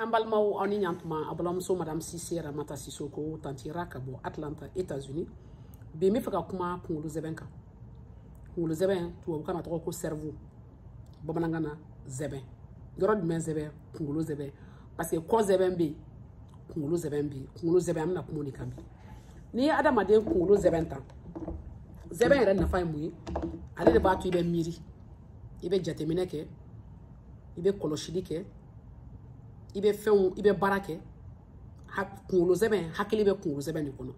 an balimaw aw ni ɲantuma aw balimamuso madame sise ramata sisoko tanti ra ka bɔ atlanta états-unis bi n bɛ fɛ ka kuma kunkolo zɛbɛn kan kunkolo zɛbɛn tubabukan na tɔgɔ ko cerveau bamanankan na zɛbɛn yɔrɔ jumɛn zɛbɛn kunkolo zɛbɛn parce que kɔ zɛbɛn bɛ yen kunkolo zɛbɛn bɛ yen kunkolo zɛbɛn an bɛna kuma o de kan bi n'i ye adamaden kunkolo zɛbɛn ta zɛbɛn yɛrɛ nafa ye mun ye ale de b'a to i bɛ miiri i bɛ jateminɛ kɛ i bɛ kɔlɔsili kɛ i bɛ fɛnw i bɛ baara kɛ kunkolo zɛmɛ hakili bɛ kunkolo zɛmɛ de kɔnɔ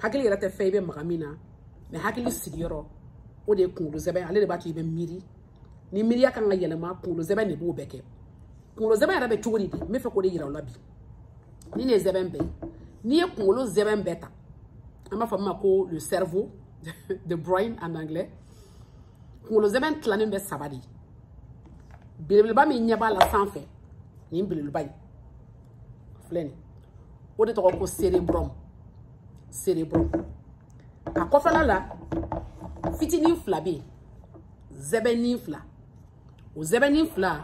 hakili yɛrɛ tɛ fɛn i bɛ maga min na mais hakili sigiyɔrɔ o de ye kunkolo zɛmɛ ale de b'a to i bɛ miiri ni miiriya kan ka yɛlɛma kunkolo zɛmɛ de b'o bɛɛ kɛ kunkolo zɛmɛ yɛrɛ bɛ cogo di bi n bɛ fɛ k'o de yira aw la bi nin de ye zɛmɛ bɛɛ ye n'i ye kunkolo zɛmɛ bɛɛ ta an b'a fɔ min ma ko le cerveau the brain en anglais kunkolo zɛmɛ tilanen bɛ saba de belebeleba min yɛrɛ b'a la sanfɛ nin belebeleba in filɛ nin o de tɔgɔ ko cerebrum cerebrum a kɔfɛla la fitinin fila bɛ yen zɛbɛnin fila o zɛbɛnin fila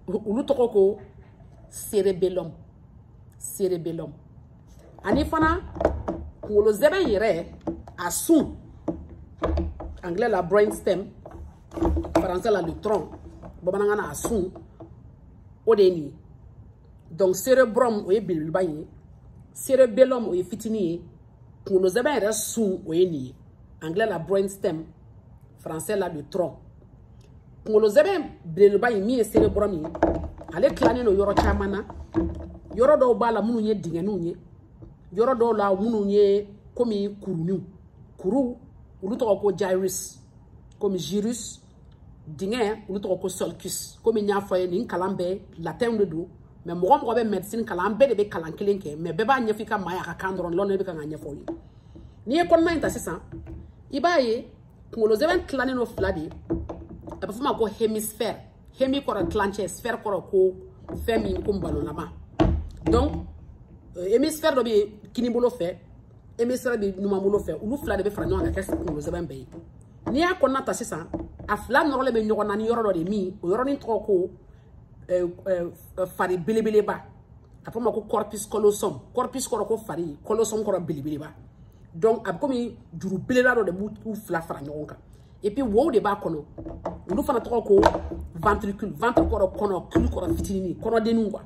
olu tɔgɔ ko cerebellum cerebellum ani fana kunkolo zɛbɛ yɛrɛ a sun anglais la brain stem français la le tronc bamanankan na a sun o de ye nin ye donc cerebrum o ye belebeleba in ye cerebellum o ye fitinin ye kunkolo zɛbɛ yɛrɛ sun o ye nin ye anglais la brain stem français la le tronc kunkolo zɛmɛ belebeleba in min ye cerebrum ye ale tilannen don yɔrɔ caman na yɔrɔ dɔw b'a la minnu ye dingɛninw ye yɔrɔ dɔw la minnu ye komi kuruniw kuru olu tɔgɔ ko gyrus komi gyrus dingɛ olu tɔgɔ ko sulcus komi n y'a fɔ aw ye nin kalan bɛɛ latin de don mais mɔgɔ mɔgɔ bɛ médecine kalan an bɛɛ de bɛ kalan kelen kɛ mais bɛɛ b'a ɲɛfɔ i ka maa y'a ka kan dɔrɔn na ne bɛ kan k'a ɲɛfɔ aw ye n'i ye kɔnɔna in ta sisan i b'a ye kunkolo zɛmɛ tilannen don fila de a bɛ f'o ma ko hémisphère hémi kɔrɔ tilancɛ sphère kɔrɔ ko fɛn min ko balonlama donc euh, hémisphère dɔ bɛ yen kinibolo fɛ hémisphère bɛ numanbolo fɛ olu fila de bɛ fara ɲɔgɔn kan ka kɛ kunkolo zɛmɛ bɛɛ ye n'i y'a kɔnɔna ta sisan a fila nɔrɔlen bɛ ɲɔgɔn na ni yɔrɔ dɔ de ye min o yɔrɔnin tɔgɔ ko euh, euh, fari belebeleba a fɔ ma ko corpus callosum corpus kɔrɔ ko fari callosum kɔrɔ belebeleba donc a bɛ komi juru belebeleba dɔ de b'u fila fara ɲɔgɔn kan et puis wow de b'a kɔnɔ olu fana tɔgɔ ko ventricule ventre kɔrɔ kɔnɔ cule kɔrɔ fitinin kɔnɔdenninw quoi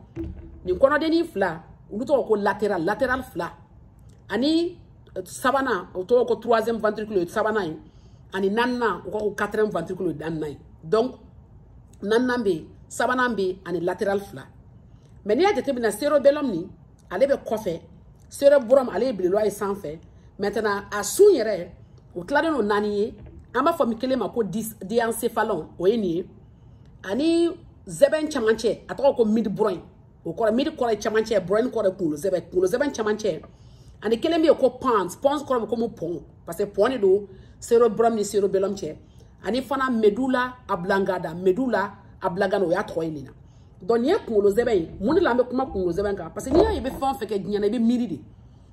nin kɔnɔdennin fila olu tɔgɔ ko lateral lateral fila ani euh, sabanan o tɔgɔ ko troisième ventricule sabanan ye ani naaninan o ka ko quatrième ventricule naaninan ye donc naaninan bɛ yen sabanan bɛ yen ani lateral fila mais n'i y'a jateminɛ cerebellum nin ale bɛ kɔfɛ cerebrum ale ye belebeleba ye sanfɛ maintenant a sun yɛrɛ o tilalen don naani ye an b'a fɔ min kelen ma ko diencephalon o ye nin ye ani zɛbɛn camancɛ a tɔgɔ ko midbrain o kɔrɔ mid kɔrɔ ye camancɛ brain kɔrɔ ye kunkolo zɛbɛn kunkolo zɛbɛn camancɛ ani kelen bɛ yen ko pons pons kɔrɔ bɛ komi pɔn parce que pɔn de don cerebrum ni cerebellum cɛ ani fana medulla oblongata medulla oblongata o y'a tɔgɔ ye nin na donc nin ye kunkolo zɛbɛ ye mun de la an bɛ kuma kunkolo zɛbɛ kan parce que n'i y'a ye i bɛ fɛn o fɛn kɛ diɲɛ na i bɛ miiri de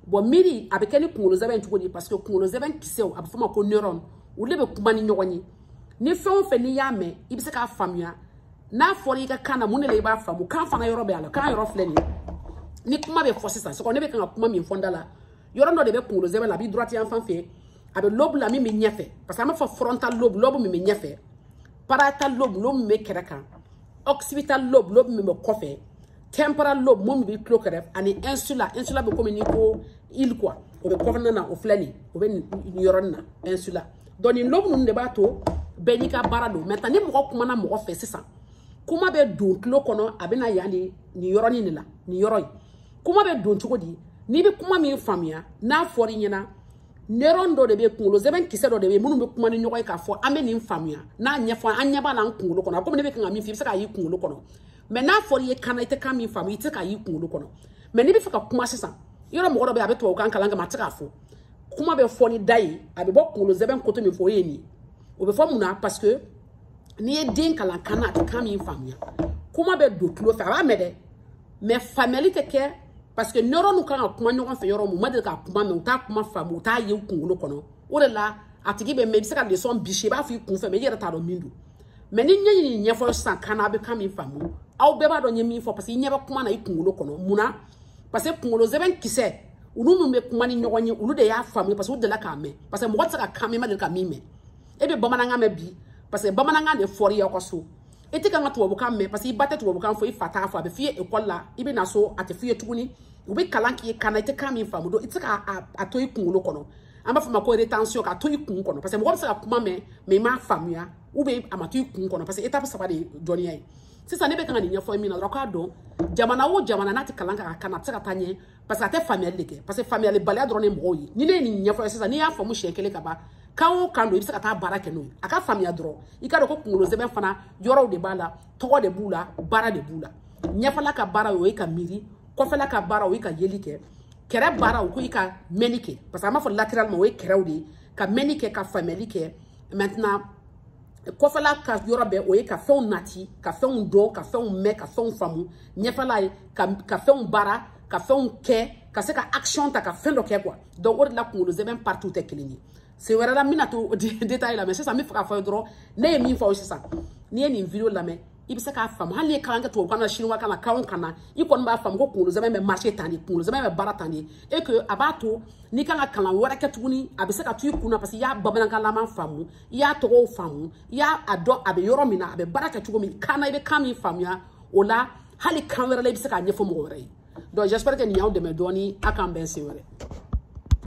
bon miiri a bɛ kɛ ni kunkolo zɛbɛ cogo di parce que kunkolo zɛbɛ kisɛw a bɛ f'o ma ko neuron olu de bɛ kuma ni ɲɔgɔn ye ni fɛn o fɛn n'i y'a mɛn i bɛ se k'a faamuya n'a fɔra i ka kan na mun de la i b'a faamu kan fana yɔrɔ bɛ a la kan yɔrɔ filɛ nin ye ni kuma bɛ fɔ sisan sɔgɔ ne bɛ kan ka kuma min fɔ n da la yɔrɔ dɔ de bɛ kunkolo zɛbɛ la a b'i droite yan fan fɛ a bɛ lobe la min bɛ ɲɛfɛ parce que an b'a fɔ frontal lobe lobe min bɛ ɲɛfɛ parietal lobe lobe min bɛ kɛrɛ kan occipital lobe lobe min bɛ kɔfɛ temporal lobe min bɛ tulo kɛrɛ ani insula insula bɛ komi n'i ko île quoi o bɛ kɔnɔna na o filɛ nin o bɛ nin yɔrɔnin na insula donc nin lobe ninnu de b'a to bɛɛ n'i ka baara don maintenant ni mɔgɔ kumana mɔgɔ fɛ sisan kuma bɛ don tulo kɔnɔ a bɛ na yan de nin yɔrɔnin de la nin yɔrɔ in kuma bɛ don cogo di n'i bɛ kuma min faamuya n'a fɔra i ɲɛna neuron dɔ de bɛ kunkolo zɛbɛn kisɛ dɔ de bɛ minnu bɛ kuma ni ɲɔgɔn ye k'a fɔ an bɛ nin faamuya n'a ɲɛfɔ an ɲɛ b'a la an kunkolo kɔnɔ komi ne bɛ kan ka min fɔ i bɛ se k'a y'i kunkolo kɔnɔ mais n'a fɔra i ye kan na i tɛ kan min faamu i tɛ se k'a y'i kunkolo kɔnɔ mais n'i bɛ fɛ ka kuma sisan yɔrɔ mɔgɔ dɔ bɛ yen a bɛ tubabukan kalan k'a mɛn a tɛ se k'a fɔ kuma bɛ fɔ ni da ye a bɛ bɔ kunkolo zɛbɛn côté min fɛ o ye nin ye o bɛ fɔ mun na parce que n'i ye den kalan kan na a tɛ kan min faamuya kuma bɛ don tulo fɛ a b'a mɛn dɛ mais faamuyali tɛ kɛ parce que neuronw kan ka kuma ɲɔgɔn fɛ yɔrɔ min u ma deli ka kuma mɛn u t'a kuma faamu u t'a ye u kunkolo kɔnɔ o de la a tigi bɛ mɛn i bɛ se ka leçon bisi i b'a fɔ i kun fɛ mais i yɛrɛ t'a dɔn min don mais ni n ye nin ɲɛfɔ sisan kan na a bɛ kan min faamu aw bɛɛ b'a dɔn n ye min fɔ parce que i ɲɛ bɛ kuma na i kunkolo kɔnɔ mun na parce que kunkolo zɛbɛn kisɛ olu minnu bɛ kuma ni ɲɔgɔn ye olu de y'a faamu parce que u delila k'a mɛn parce que mɔgɔ tɛ se ka kan mɛn i ma deli ka min mɛn e bɛ bamanankan mɛn bi parce que bamanankan de fɔra i y'aw ka so i tɛ kan ka tubabukan mɛn parce que i ba tɛ tubabukan fɔ i fa t'a fɔ a bɛ f'i ye ekɔli la i bɛ na so a tɛ f'i ye tuguni u bɛ kalan k'i ye kan na i tɛ kan min faamu donc i tɛ se k'a to i kunkolo kɔnɔ an b'a f'o ma ko retention k'a to i kun kɔnɔ parce que mɔgɔ bɛ se ka kuma mɛn mais i m'a faamuya ou bien a ma to i kun kɔnɔ parce que étape saba de ye dɔnniya ye sisan ne bɛ kan ka nin ɲɛfɔ min na dɔrɔn k'a dɔn jamana o jamana n'a tɛ kalan kɛ a kan na a tɛ se ka taa ɲɛ parce que a tɛ faamuyali de kɛ parce que faamuyalibaliya dɔrɔn de mɔgɔw ye ni ne ye nin ɲɛfɔ i ye sisan n'i y'a faamu siɲɛ kelen ka ban kan o kan don i bɛ se ka taa baara kɛ n'o ye a ka faamuya dɔrɔn i k'a dɔn ko kunkolo sɛmɛ fana yɔrɔw de b'a la tɔgɔ de b'u la baara de b'u la ɲɛfɛla ka baara o ye ka miiri kɔfɛla ka baara o ye ka yeli kɛ kɛrɛ baara o ko i ka mɛnni kɛ parce que an b'a fɔ latéralement o ye kɛrɛw de ye ka mɛnni kɛ ka faamuyali kɛ maintenant kɔfɛla ka yɔrɔ bɛɛ o ye ka fɛnw nati ka fɛnw dɔn ka fɛnw mɛn ka fɛnw faamu ɲɛfɛla ye ka ka fɛnw baara ka fɛnw kɛ ka se ka action ta ka fɛn dɔ kɛ quoi donc o de la kunkolo sɛmɛ partout tɛ kelen ye sen wɛrɛ la n bɛna to détail la mais sisan n b'a fɛ k'a fɔ aw ye dɔrɔn ne ye min fɔ aw ye sisan n'i ye nin vidéo lamɛn i bɛ se k'a faamu hali n'i ye kalan kɛ tubabukan na siniwa kan na kan o kan na i kɔni b'a faamu ko kunkolo sɛmɛ bɛ marché tan de kunkolo sɛmɛ bɛ baara tan de et que a b'a to n'i kan ka kalan wɛrɛ kɛ tuguni a bɛ se ka to i kun na parce que i y'a bamanankanlama faamu i y'a tɔgɔw faamu i y'a a dɔn a bɛ yɔrɔ min na a bɛ baara kɛ cogo min kan na i bɛ kan min faamuya o la hali kan wɛrɛ la i bɛ se k'a ɲɛfɔ mɔgɔ wɛrɛ ye donc j'espère que nin y'aw dɛmɛ dɔɔni a k'an bɛn sen wɛrɛ